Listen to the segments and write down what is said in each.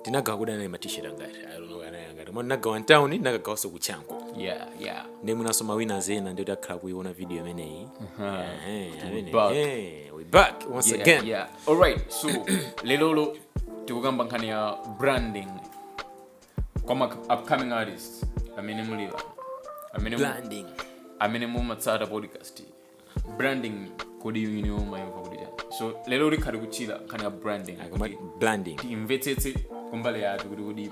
ndinagawa kuti anali ma t-shirt angati I don't know anali angati koma ndinagawa mutauni ndinakagawanso ku chanco yeah yeah ndi mwinanso ma viewers ena kuti akhala kuiona video imeneyi Ehe, amene- back. eh, we back once yeah, again yeah. all right so lelolo tikukamba nkhani ya branding kwa ma upcoming artists amene mulipo amene mu- branding amene mumatsata podcast branding kodi imayamba kuti chani so lero tikhala tikuchita nkhani ya branding akamati branding timvetsetse kumbali yathu kuti kodi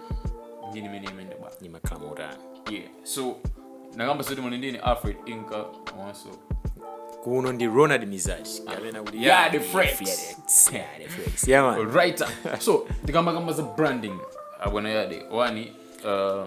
njira imeneyi bwa imakhala motani yeah so takamba zoti muli ndine alfred inka komanso kuno ndi ronald mizati kapena kuti Yeah, the Fred's. Fred's. Yeah, the Fred's. Yeah, man. writer so tikamakamba za branding abwana yade wani uh,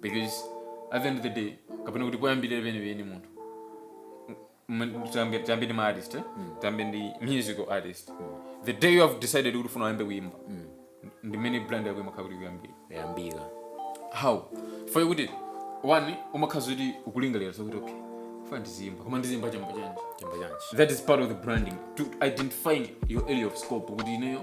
because at the end of the day kapena kuti poyambirira penipeni munthu m- tiyambe tiyambe ndi ma artist eh? tiyambe ndi musical artist the day you have decided kuti ufuna uyambe kuyimba ndi mmene brand yako imakhala kuti ikuyambira how faye kuti one umakhala kuti ukulingalira zokuti okay ine ndiziimba koma ndiziimba chamba chanji chamba chanji that is part of the branding to identifying your area of scope kuti ineyo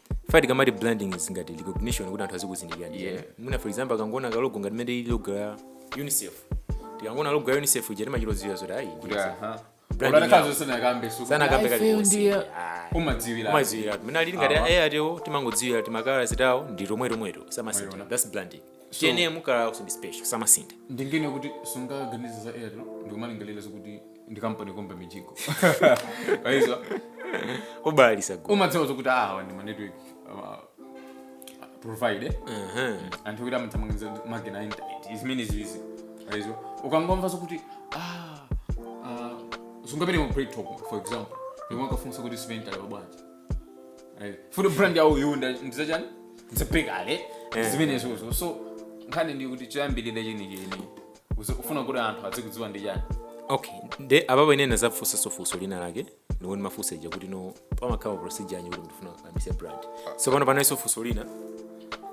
ife tikamati branding is ngati recognition kuti anthu azikuzindikira ndi Yeah. mwina for example akangoona kalogo ngati mene ili logo ya unicef tikangoona logo ya unicef ija timachita kudziwa zoti ayi ndi unicef. Branding yao. asanakambe kali Ayi, konse. ndiye- Ayi. umadziwira umadziwira mmene alili ngati Awa. eya ndiwo timangodziwira timakala take tawo ndi tomwetomweto samasintha Mwaiona. thats branding So- tiyene ma colour awo ndi special samasintha ndinganene kuti sungaganize za airtel ndikumalingalira zokuti ndi kampani yokumba mijigo ayi ya ma borehole umadziwa zokuti awa ndi manetwork provider Mhm. anthu kuti amathamangiza makina a intaneti zimenezizi eya iwe ukangomva zokuti ah, ah, sungapite ku break talk for example ndikumafunsa kuti simenti ali bwanji futi brand yawo yunda ndizachani ndizosiyana zimenezozo so nkhani ndi kuti choyambirira chenicheni uzi- ufuna kuti anthu azikudziwa ndi chani okay ndiye apapo ine ndinadzafunsanso funso lina lake lomwe ndimafunsa ija kuti no pamakhala procedure yanji kuti ndifuna kuyambitsa brand so pano palinso funso lina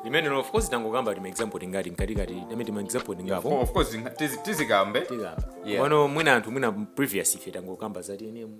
limene of course tangokamba ti maexample tingati mkatikati dame ti maexample tingapo Oh, of course zinga- tizi- tizikambe tikamba Yeah. pano mwina anthu mwina previous ife tangokamba za tnm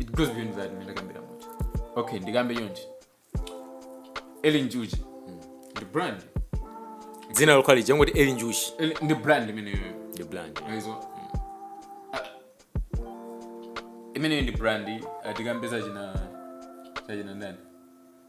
it goes beyond that mmene wakambira muja okay ndikambe monga Eli Njuchi ndi brand dzina lokhalo tikangoti eli njuchi Ellen- ndi brand imene yoyo ndi brand eya imeneyo ndi brand tikambe za china chachinanso ndani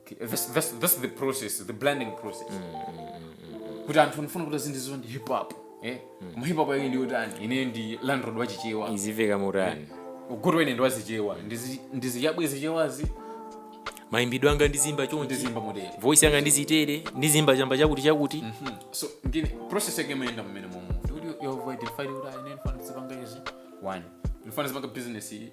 Okay, that's, that's, that's the process the blending process kuti anthu ndifuna kuti azindidziwa ndi hip hop eh? koma hip hop yake ndi yotani ine ndi landlord wachichewa izimveka motani nkuti amwene ndi wa Chichewa Ndizi- ndiziyabwe zichewazi mayimbidwe anga ndizimba chonchi ndizimba motere voice yanga ndizitere ndizimba chamba chakuti chakuti so ngini process yake imayenda mmene momo ndikuti you've identified kuti ah ine ndifuna ndizipanga izi ndifuna ndizipanga business iyi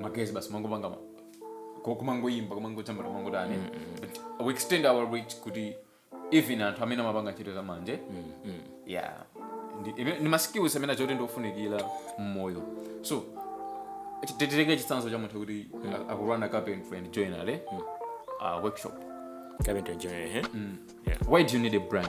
magayiz basi mangopanga ma- ku- kumangoyimba kumangojambula kumangotani but we extend our reach kuti even anthu amene amapanga ntchito za manja yeah Ndi- ive- ndi maskills amene achoti ndiofunikira mmoyo so titenge chitsanzo cha munthu kuti a- akupanga carpentry and joinery uh, workshop Carpentry and joinery, eh? Yeah. why do you need a brand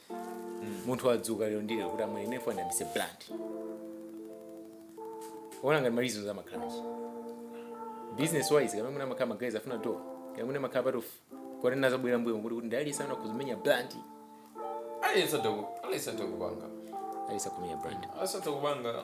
munthu wadzuka lero ndi lero kuti amwene ndifuna ndiyambise brand ngati malizo za makhalanje business wise kamene mumakhala magayiz afuna dola kamene mumakhala part yoti amazabwerera mbuyo kuti kuti ndalisa ana kuzimenya brand aliyesa dokupanga alisa kumenya brand asatokupanga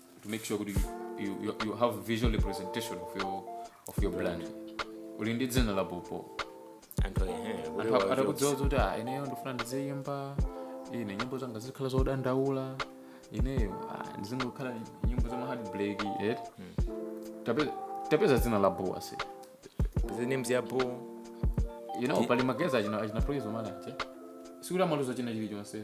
to make sure kuti you, you, you have visual representation of your, of your brand uli ndi dzina labobo anthu ehe, Anthu kuti wa- atakudziwa kuti ah, ineyo ndifuna ndiziyimba ine nyimbo zanga zizikhala zodandaula ineyo ah, ndizingokhala nyimbo za maheart break eti Tapeza- tapeza dzina labobo say the names ya bo you know pali magayiz achina achina Praise Umali sikuti amaluza china chilichonse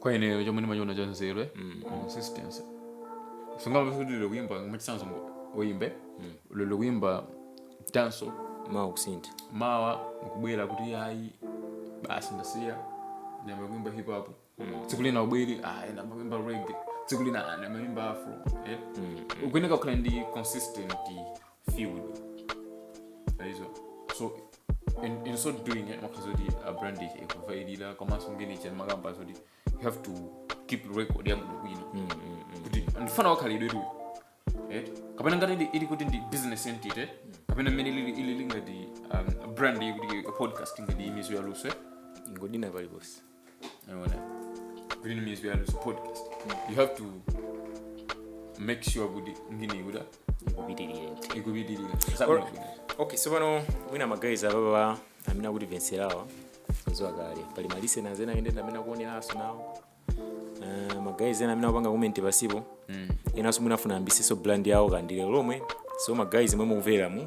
kwa ineyo chomwe ndimachiona cha nzeru eh? consistency sungayambe kuti lero kuyimba mwachitsanzo uyimbe lero kuyimba dancehall mawa kusintha mawa nkubwera kuti ayi basi ndasiya ndayamba kuimba hip hop tsiku lina ubwere ayi ndayamba kuimba reggae tsiku lina ndayamba kuimba afro eh? ukuyeneka kukhala ndi consistent field wise so in, in so doing it makes it kuti brand ichi ikupitirira komanso ngini ichi timakamba kuti you have to keep record yabwino bwino kuti ndi mfana wakhalidwetu right kapena ngati ili- ili kuti ndi business entity kapena mmene ili ili lingati um, brand iyi kuti a podcast ngati imeneyo ya luswe ingodina paliponse Unaona? Green means we are this podcast. You have to make sure kuti ngini kuti Ikupitirire. ikupitirira. Or- okay so pano mwina magayiz apapa amene akutimvetserawa akuziwa kale pali malisenazi ena amene akuoneranso nawo Eh, magayiz ena amene akupanga komenti pasipo enanso mwina afuna ayambisenso brand yawo kaya ndi lero lomwe so magayiz omwe mukumvera mu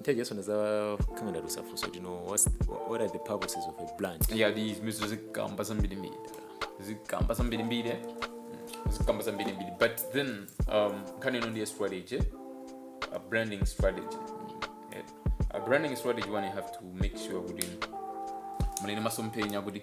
nthawi tisanazakambirana ndizafunse kuti what are the purposes of a brand yeah ndizimenezo zikamba zambirimbiri zikamba zambirimbiri Mm, zikamba zambirimbiri but then um, nkhani ino ndi ya strategy a branding strategy Yeah. a branding strategy one you have to make sure kuti muli ndi masomphenya anu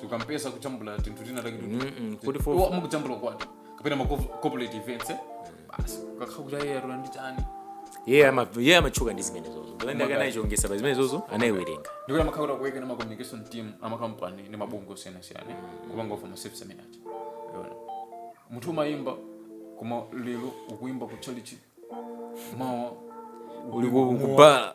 sakampeza akujambula tinthu tina take Mm-mm, kuti for- mukujambula ukwati kapena ma cov- corporate events eh? basi akakhala kuti ayi atona ndi chani iye ama- iye amatchuka ndi zimenezozo ndolenda Magari. kanayichongetsa pa zimenezozo anayiwerenga ndikuti amakhala kuti akuweka ndi ma communication team amakampani ndi mabungwe osiyanasiyana kupanga offer ma service ndiye wina munthu umayimba koma lero ukuyimba ku chalichi mawa uli ukuyimba ku mowa. ku bar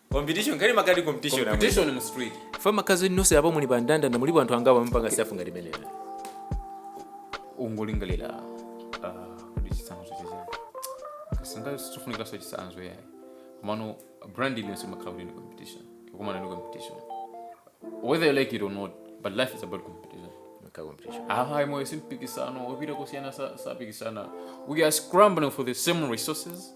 competition kale pakati competition yomwe. competition mu street ife ma guys nonse apo muli pandandanda mulipo anthu angapo amapanga stuff ngati imeneyo ungolingalira ah, kodi chisanzo chachani kasinga sichifunikanso chisanzo yayi komano brand iliyonse imakhala kuti ndi competition ikukumana ndi competition whether you like it or not but life is about competition Maka competition ayi moyo si mpikisano wapita kusiyana sa- sapikisana we are scrambling for the same resources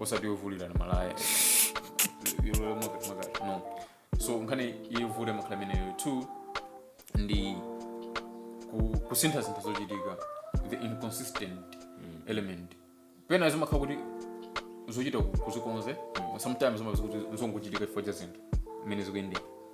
osati yovulirana malaya yolowera mkati mkati no so nkhani yovulira imakhala imeneyo two ndi ku- kusinthasintha zochitika the inconsistent element pena zimakhala kuti zochita ku- kuzikonza sometimes zimakhala kuti zongochitika chifukwa cha zinthu mmene zikuyendera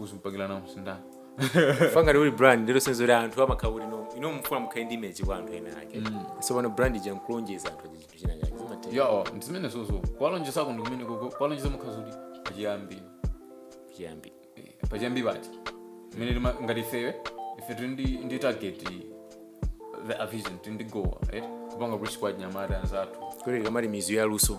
uzipangila uzisintha pa ngati uli brand ndi lonjezo kuti anthu amakhala kuti no inu mufuna mukhale ndi image kwa anthu ena ake so pano brand ija mukulonjeza anthu aja chinthu china chake zimatha ija ndizimene zozo ukuwalonjeza kuno kumene koko ukuwalonjeza mukuwauza kuti pachiyambi chiyambi Eh, pachiyambi paja mmene tima ngati ifewe ife tiri ndi ndi target the a vision tiri ndi goal right kupanga kuti tikweze achinyamata anzathu kuti kaya ma misiri ya luso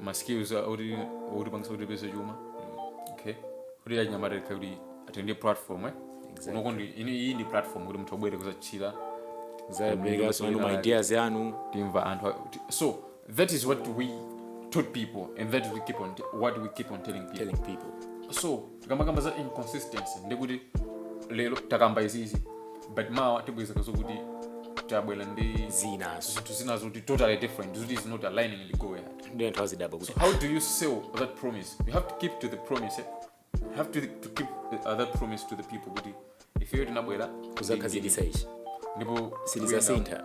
ma skills a- oti otipangisa kuti tipeze chuma okay kuti achinyamata tikhale kuti atenge ndi platform eh Exactly. kunoko ndiye iyi ndi platform kuti munthu abwere kuzashera azapereka zanu ma ideas anu timva anthu a- ti- so that is what we told people and that we keep on what we keep on telling people telling people so Tikamakamba za inconsistency ndekuti lero takamba izizi but mawa tipezeka zokuti tabwera ndi zinanso zinthu zina zoti totally different zoti is not aligning ndi goal yathu ndiye anthu azidabwa kuti how do you sell that promise you have to keep to the promise eh? you have to, to keep uh, that promise to the people kuti ifeyo tinabwera kuzakhazikitsa ichi ndipo Sitizasintha.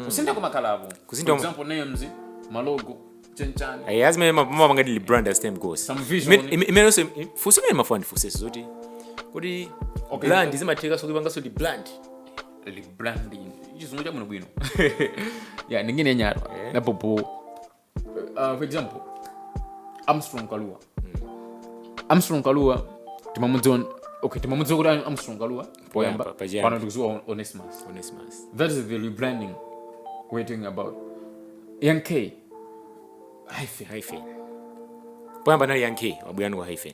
kusintha kumakhalapo Kusintha For kuma- example, names malogo chanichani ayi ndi zimene amapanga rebrand as time goes Same vision. Ime- ime- imenenso funso imene ndimafuna ndifunseso zoti kuti Okay. brand zimathekaso kuipangaso rebrand rebranding chizungu chabwinobwino ya ndingonena mwa pompo uh, for example armstrong kalua armstrong kalua timamudziwa okay timamudziwa kuti armstrong kalua poyamba Poyamba, pachiyambi. pano tikudziwa onesimus onesimus that is the rebranding we're talking about young k hyphen hyphen poyamba anali young k wabwera ndi wa hyphen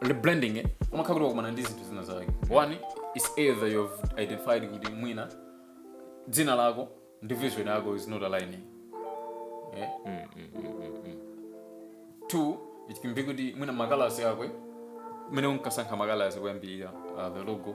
rebranding eh, umakhala kuti wakumana ndi zinthu zina zake one is either you've identified kuti mwina dzina lako ndi vision yako is not aligning yeah? two it can be kuti mwina ma colours ako amene unkasankha ma colours koyambirira uh, the logo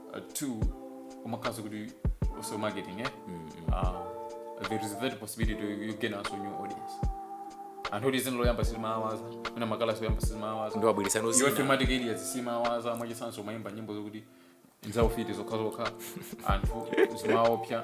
uh, two umakhalanso kuti also marketing eh? uh, there is that possibility to you gain also new audience anthu oti dzina loyamba sizimawaza mwina ma colours oyamba sizimawaza ndiye wabweretsa iwo nozina thematic areas simawaza mwachitsanzo umayimba nyimbo zokuti nzaufiti zokhazokha anthu zimaopsa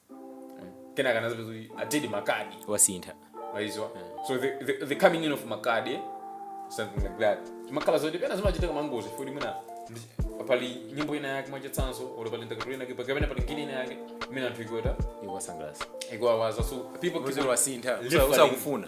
kenaka anadzapeza kuti a teddy makadi wasintha waizwa so the, the, the coming in of makadi something like that makhala zoti pena zimachitika mwangozi kuti mwina ndi- pali nyimbo ina yake mwachitsanzo olo pali ndakatulo ina yake kapena pali ngini ina yake imene anthu ikweta ikuwasangalatsa ikuwawaza so people keep uziro on- wasintha Literally. usakufuna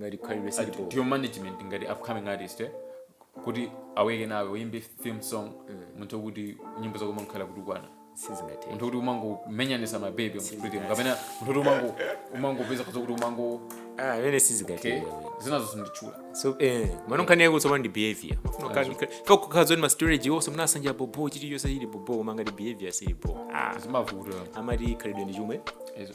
ngati khalidwe silipo ndiye management ngati upcoming artist eh? kuti aweke nawe uyimbe theme song munthu wokuti nyimbo zako umakhala kutukwana sizingathe munthu kuti umangomenyanitsa mabebi mu street kapena munthu kuti umango umangopeza kuti kuti umango ah amene sizingathe eh, zinazo zinditchula so eh mano nkhani yako tsopano ndi behavior kakukhala zoti ma strategy onse munasanja bobo chiti chonse chili bobo koma ngati behavior sili bobo ah zimavuta amati khalidwe ndi chomwe izo